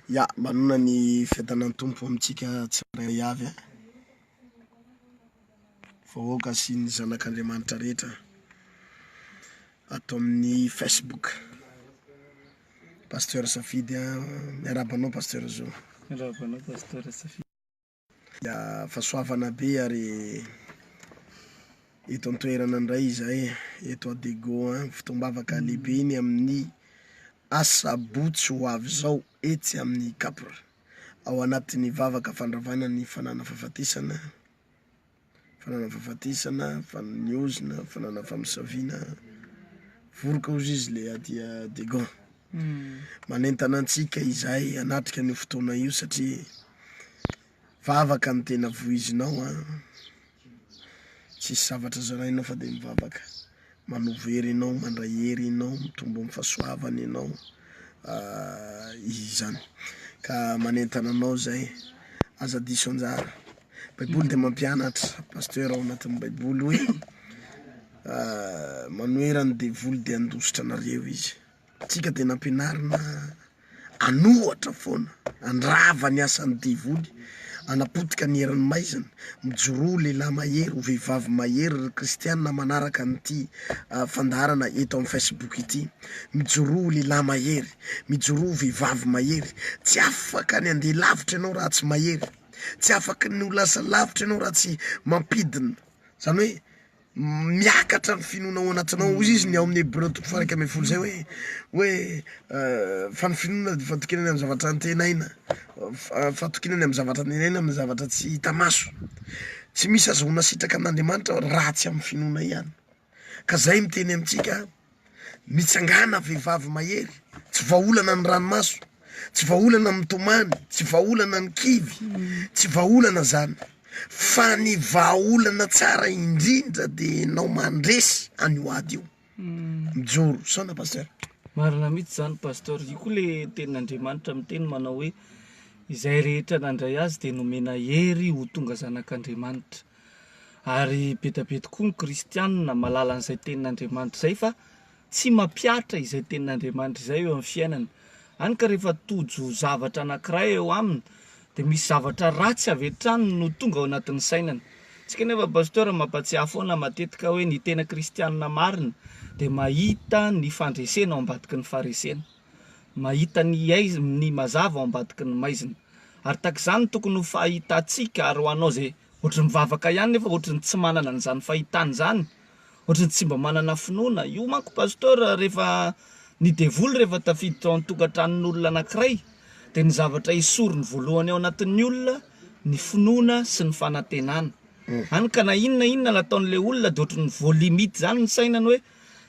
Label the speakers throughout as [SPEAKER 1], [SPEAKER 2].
[SPEAKER 1] Ya, manona ny fiadanan'ny Tompo amintsika tsirairay avy an! Vahoaka sy ny zanak'Andriamanitra rehetra ato amin'ny Facebook. Pasteur Safidy an! Miarahaba anao Pasteur Zo. Miarahaba anao Pasteur
[SPEAKER 2] Safidy. Dia
[SPEAKER 1] fahasoavana be ary eto an-toerana indray izay eto Adego an, fotoam-bavaka lehibe ny amin'ny asabotsy ho avy izao etsy amin'ny Capr ao anatin'ny vavaka fandravana ny fananafahafatesana Fanana fahafatesana, fanana ny ozona, fanana famosaviana, voroka hozy izy le adia degon. Manentana antsika izahay hanatrika an'io fotoana io satria vavaka ny tena voizinao an, tsisy zavatra zarainao fa de mivavaka. Manova hery enao, mandray hery enao, mitombo amin'ny fahasoavana enao izany. Ka manentana anao zay, aza diso anjara. Baiboly dia mampianatra Pasteur ao anatin'ny baiboly hoe manohera ny devoly dia handositra anareo izy. Antsika dia nampianarina an'ohatra foana, handrava ny asan'ny devoly, hanapotika ny herin'ny maizina, mijoroa ho lehilahy mahery, ho vehivavy mahery ry kristiana manaraka an'ity fandaharana eto amin'ny Facebook ity, mijoroa ho lehilahy mahery, mijoroa ho vehivavy mahery, tsy afaka ny handeha lavitra ianao raha tsy mahery, tsy afaka ny ho lasa lavitra ianao raha tsy mampidina, zany hoe Miakatra ny finoana ao anatinao. Hoy izy ny ao amin'ny Hebreo toko faha-iraika ambin'ny folo izay hoe, hoe fa ny finoana dia fatokinana amin'ny zavatra antenaina, fatokinana amin'ny zavatra antenaina, amin'ny zavatra tsy hita maso. Tsy misy ahazoana sitraka amin'Andriamanitra raha tsy amin'ny finoana ihany, ka izay miteny amintsika. Mitsangàna vehivavy mahery, tsy vahaolana ny ranomaso, tsy vahaolana ny mitomany, tsy vahaolana ny kivy, tsy vahaolana zany fa ny vahaolana tsara indrindra de enao mandresy an'io ady io. Mijoro saona Pasteur. Marina mihitsy izany
[SPEAKER 2] Pasteur, io koa le tenin'Andriamanitra miteny manao hoe izay rehetra nandray azy dia nomena hery ho tonga zanak'Andriamanitra. Ary be dia be tokoa ny kristianina mahalala an'izay tenin'Andriamanitra izay fa tsy mampihatra izay tenin'Andriamanitra izay eo amin'ny fiainany. Hany ka rehefa tojo zavatra anankiray eo aminy dia misy zavatra ratsy avy hatrany no tonga ao anatin'ny sainany. Tsika anefa Pasteur mampatsiahy foana matetika hoe ny tena kristianina marina dia mahita ny fandresena ao ambadiky ny faharesena. mahita ny aizm ny mazava ao ambadiky ny maizina. Ary tahaka izany no tokony ho fahitantsika ary ho anao izay ohatry ny mivavaka ihany nefa ohatry ny tsy manana an'izany fahitana izany, ohatry ny tsy mba manana finoana. Io manko Pasteur rehefa ny devoly rehefa tafiditra ao an-tokantranon'olona anankiray dia ny zavatra esoriny voalohany ao anatin'ny olona ny finoana sy ny fanantenana. Hany ka na inona inona nataon'ilay olona dia ohatry ny voalimite izany ny sainany hoe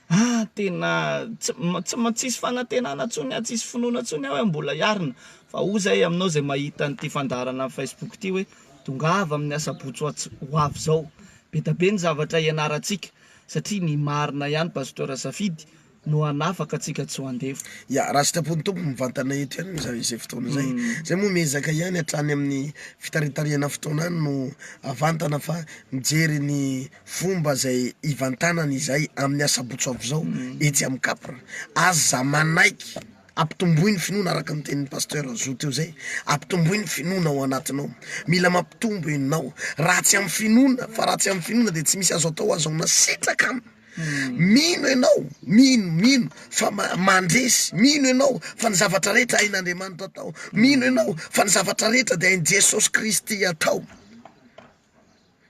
[SPEAKER 2] Ah tena tsy tsy tsisy fanantenana tsony ah tsisy finoana tsony ah hoe mbola hiarina fa oa zay aminao zay mahita an'ity fandaharana am Facebook ty hoe tongava amin'ny asabotsy ho avy zao be da be ny zavatra hianarantsika satria ny marina ihany Pasteur Safidy no hanafaka antsika tsy ho andevo. Ya, raha sitrapon'ny
[SPEAKER 1] Tompo mivantana eto ihany moa izay fotoana izay, zay moa miezaka ihany hatrany amin'ny fitaritarihana fotoana any no havantana fa mijery ny fomba izay hivantanany izay amin'ny asabotsy avy izao etsy amin'ny Capr. Aza manaiky hampitomboy ny finoana araka ny tenin'i Pasteur Zo teo izay, hampitomboy ny finoana ao anatinao. Mila mampitombo enao. Raha tsy amin'ny finoana, fa raha tsy amin'ny finoana dia tsy misy azo atao aza hono sitraka an! Mino enao, mino, mino fa mandresy, mino enao fa ny zavatra rehetra hain'Andriamanitra atao, mino enao fa ny zavatra rehetra dia hain'i Jesosy Kristy atao.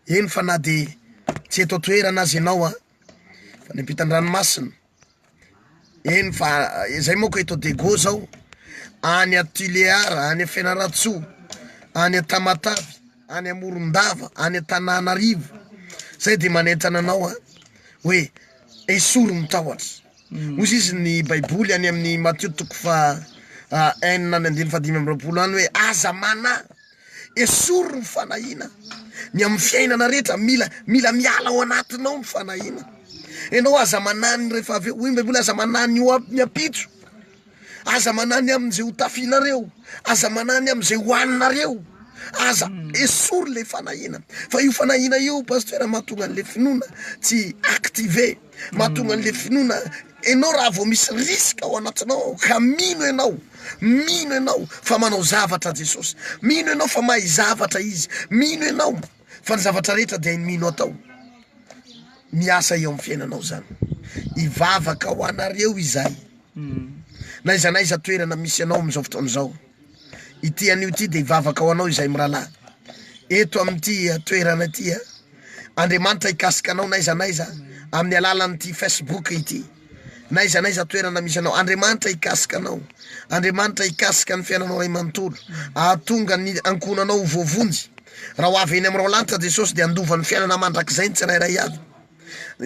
[SPEAKER 1] Eny fa na dia tsy eto an-toerana aza ianao an, fa any ampitan-dranomasina, eny fa izay manko eto Diego zao, any Tulear, any Fianarantsoa, any Tamatave, any Morondava, any Antananarivo, zay de manentana anao an oe esory ny tahotra, ozy izy ny baiboly any amin'ny Matio toko faha enina amby andimy faha dimy amby roapolo any oe aza manahy Esory ny fanahiana, ny amin'ny fiainana rehetra mila mila miala ao anatinao ny fanahiana, ianao aza mananiny rehefa avy eo, hoy ny baiboly aza mananiny ho amin'ny ampitso, aza mananiny amin'izay ho tafianareo, aza mananiny amin'izay ho haninareo, aza esory le fanahiana, fa io fanahiana io pasteur mahatonga an'le finoana tsy activer, mahatonga an'le finoana Enao raha vao misy risque ao anatinao ao ka mino enao, mino enao fa manao zavatra Jesosy, mino enao fa mahay zavatra Izy, mino enao fa ny zavatra rehetra dia hainy mino atao, miasa eo amin'ny fiainanao zany. Hivavaka ho anareo izahay na aiza na aiza toerana misy anao amin'izao fotoana izao. Ity anio ity dia hivavaka ho anao izahay mirahalahy, eto amin'ity toerana ity. Andriamanitra hikasika anao n'aiza n'aiza amin'ny alalan'ity Facebook ity, n'aiza n'aiza toerana misy anao. Andriamanitra hikasika anao, Andriamanitra hikasika ny fiainanao iray manontolo, ahatonga ny ankohonanao ho voavonjy. Raha ho avy eny amin'ny raolanitra Jesosy dia handova ny fiainana mandrakizay ny tsirairay avy.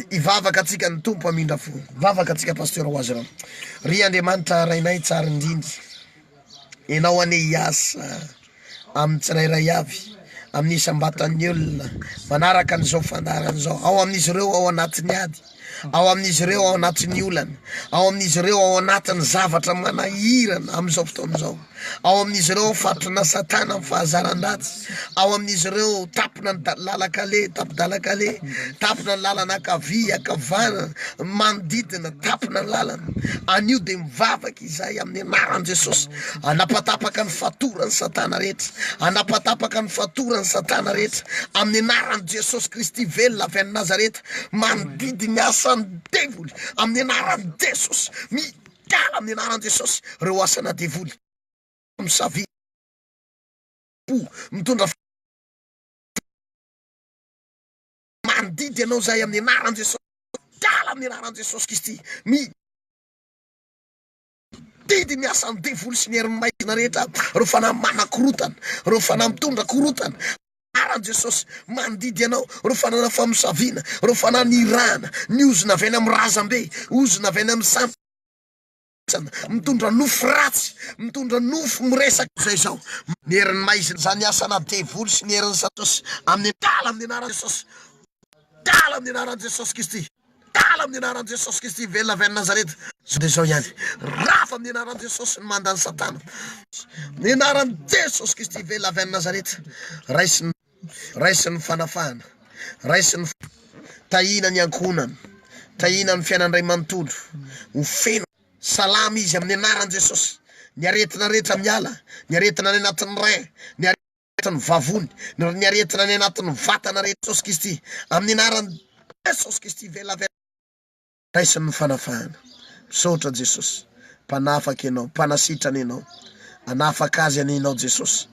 [SPEAKER 1] Hivavaka antsika ny Tompo hamindra fo. Vavaka antsika Pasteur ho azy ireo. Ry Andriamanitra Rainay tsara indrindra, Ianao anie hiasa amin'ny tsirairay avy, amin'ny isam-batan'ny olona, manaraka an'izao fandaharana izao, ao amin'izy ireo ao anatin'ny ady, ao amin'izy ireo ao anatin'ny olana, ao amin'izy ireo ao anatin'ny zavatra manahirana amin'izao fotoana izao. Ao amin'izy ireo fatrona Satana amin'ny fahazaran-dratsy. Ao amin'izy ireo tampona ny lalan-kale, tampi-dalan-kale, tampona ny lalana ankavia, ankavanana, manodidina, tampona ny lalana. Anio dia mivavaka izahay amin'ny anaran'i Jesosy, hanapatapaka ny fatoran'i Satana rehetra, hanapatapaka ny fatoran'i Satana rehetra, amin'ny anaran'i Jesosy Kristy velona avy any Nazareta, manodidy ny asan'ny devoly, amin'ny anaran'i Jesosy. Tara amin'ny anaran'i Jesosy ireo asana devoly misavy po mitondra fo. Mandidy anao izahay amin'ny anaran'i Jesosy. Tara amin'ny anaran'i Jesosy Kristy. Mi didy ny asan'ny devoly sy ny herin'ny maizina rehetra ireo fanahy manakorotana, ireo fanahy mitondra korotana. Ara Jesosy, mandidy Ianao, ireo fananan'ny famosaviana, ireo fanahy nirahana, ny ozona avy any amin'ny razambe, ozona avy any amin'ny samy, mitondra nofo ratsy, mitondra nofo miresaka, izay izao, ny herin'ny maizina, izany asana devoly sy ny herin'i Satosy, amin'ny, dala amin'ny anaran'i Jesosy, dala amin'ny anaran'i Jesosy Kristy. Tala amin'ny anaran'i Jesosy Kristy velona avy any Nazareta. Izao dia izao ihany. Rava amin'ny anaran'i Jesosy ny manda an'i Satana. Ny anaran'i Jesosy Kristy velona avy any Nazareta. Raisin'ny. Raisin'ny fanafahana. Raisin'ny. Tahiana ny ankohonany. Tahiana ny fiainany iray manontolo. Ho feno. Salama izy amin'ny anaran'i Jesosy. Ny aretina rehetra miala. Ny aretina any anatin'ny rein. Ny. anatin'ny vavony, na ny aretina any anatin'ny vatana rehetra Jesosy Kristy, amin'ny anaran'i Jesosy Kristy velabelaho raisin'ny fanafahana. Misaotra Jesosy, mpanafaka Ianao, mpanasitrana Ianao, hanafaka azy anie Ianao Jesosy,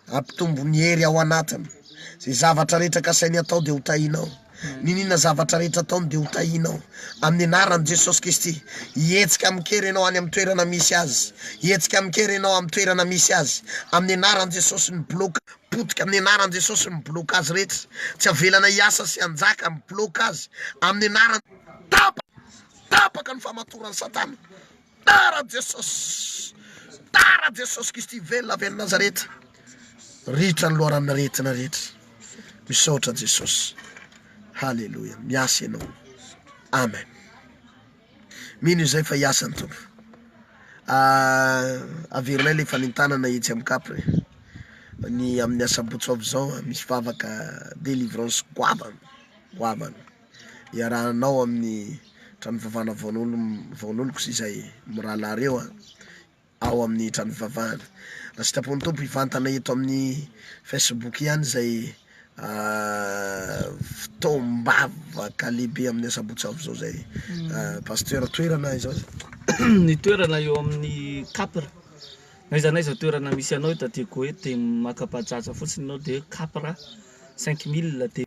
[SPEAKER 1] hampitombo ny hery ao anatiny, izay zavatra rehetra kasainy hatao dia ho tahinao. Niniana zavatra rehetra ataony dia ho tahinao amin'ny anaran'i Jesosy Kristy. Hihetsika amin-kery ianao any amin'ny toerana misy azy. Hihetsika amin-kery ianao amin'ny toerana misy azy. Amin'ny anaran'i Jesosy, mibloka. Potika amin'ny anaran'i Jesosy, mibloka azy rehetra. Tsy avelana hiasa sy hanjaka, mibloka azy amin'ny anaran'i. Tapaka! Tapaka ny famatoran'i Satana. Tara Jesosy Tara Jesosy Kristy velona avy any Nazareta Ritra ny loharanona retina rehetra Misaotra Jesosy Haleloia Miasa ianao Amen Mino izay fa hiasa ny Tompo ah, Averinay le fanentanana etsy amin'ny kap eh. Ny amin'ny asabotsy ho avy izao ah, Misy vavaka delivrance goavana Goavana iarahanao amin'ny trano fivavahana vaonoloko sy izay mirahalahy ireo ao amin'ny trano fivavahana. Raha sitrapon'ny Tompo hivantana eto amin'ny Facebook ihany izay fotoam-bavaka lehibe amin'ny asabotsy avy izao izay Pasteur, toerana aiza aiza? Ny
[SPEAKER 2] toerana eo amin'ny Capr, na aiza na aiza toerana misy anao eto Atiagoa eto dia maka bajaj fotsiny ianao dia Capr cinq mille dia.